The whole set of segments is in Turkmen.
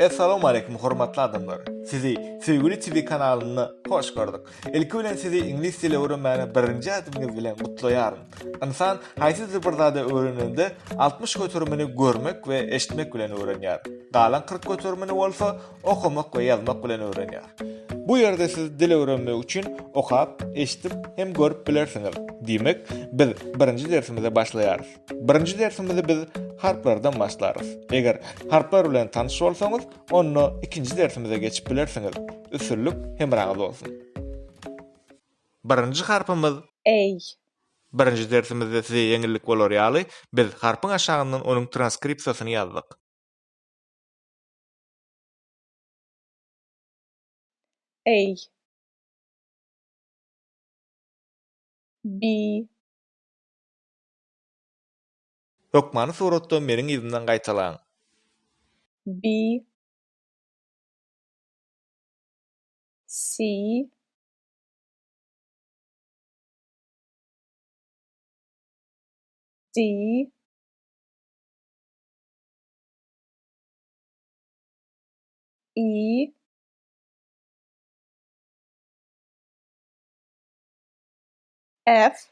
Essalamu Aleýkum hormatly adamlar! Sizi Söýgüli TV kanalynda hoş gördük. Ilki bilen sizi iňlis dili öwrenmäge birinji ädimiňiz bilen gutlaýaryn. Ynsan haýsydyr bir zady öwrenende altmyş göterimini görmek we eşitmek bilen öwrenýär. Galan kyrk göterimini bolsa okamak we ýazmak bilen öwrenýär. Bu ýerde siz dil öwrenmek üçin okap, eşidip hem görüp bilersiňiz. Diýmek, biz birinji dersimize başlaýarys. Birinji dersimizi biz harplardan başlarys. Eger harplar bilen tanyş bolsaňyz, Onda ikinji dersimize geçip bilersiňiz. Üstünlik hemraňyz bolsun. Birinji harpymyz Eý. Birinji dersimizde size ýeňillik bolar ýaly, biz harpyň aşagyndan onuň transkripsiýasyny ýazdyk. Eý. Bi. Hökmany suratda meniň yzymdan gaýtalaň. B C D E F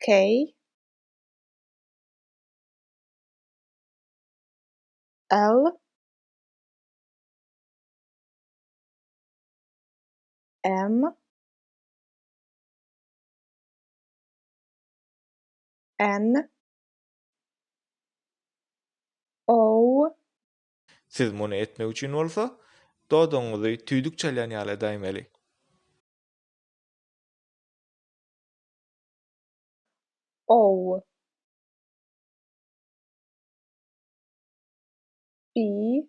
K L M N O Siz muny etmek üçin bolsa, dodagyňyzy tüýdük çalýan ýaly edäýmeli. Ow. Ii.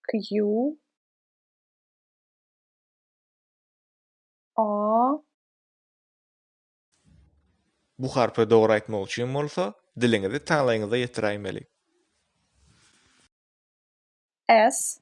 Kju. Aa. Bu harpy dogry aýtmak üçin bolsa, diliňizi taňlaýyňyza ýetiräýmeli. S.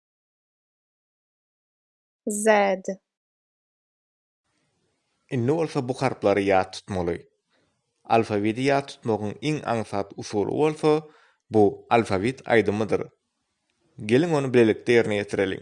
Z. Indi bolsa bu harplary ýat tutmaly. Alfawiti ýat tutmagyň iň aňsat usuly bolsa, bu alfawit aýdymydyr. Geliň ony bilelikde ýerine ýetireliň.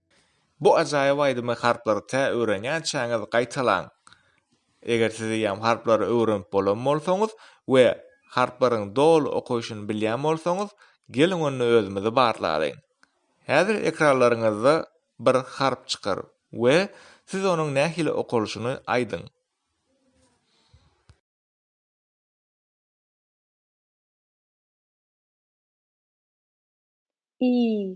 Bu ajaýyp aýdymy harplary tä öwrenýänçäňiz gaýtalaň. Eger siz eýýäm harplary öwrenip bolan bolsaňyz we harplaryň doly okaýşyny bilýän bolsaňyz, geliň onda özümizi barlalyň. Häzir ekranlaryňyzda bir harp çykar we siz onuň nähili okalyşyny aýdyň. I.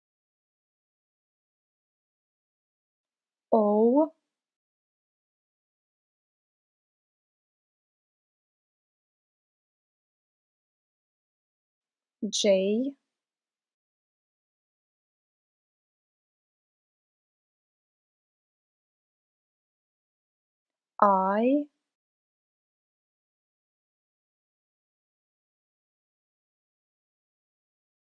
Ow. Jay. I.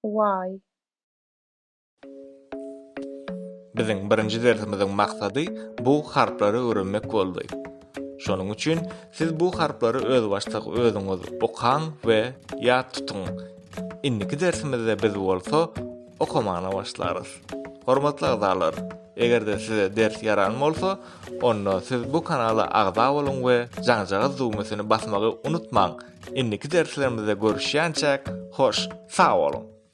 Why? Biziň birinji dersimiziň maksady bu harplary öwrenmek boldy. Şonuň üçin siz bu harplary özbaşdak özüňiz okaň we ýat tutuň. Indiki dersimizde biz bolsa okamana başlarys. Hormatly agzalar, eger-de size ders ýaran bolsa, onda siz bu kanala agza boluň we jaňjagaz düwmesini basmagy unutmaň. Indiki derslerimizde görüşýänçäk, hoş, sag boluň!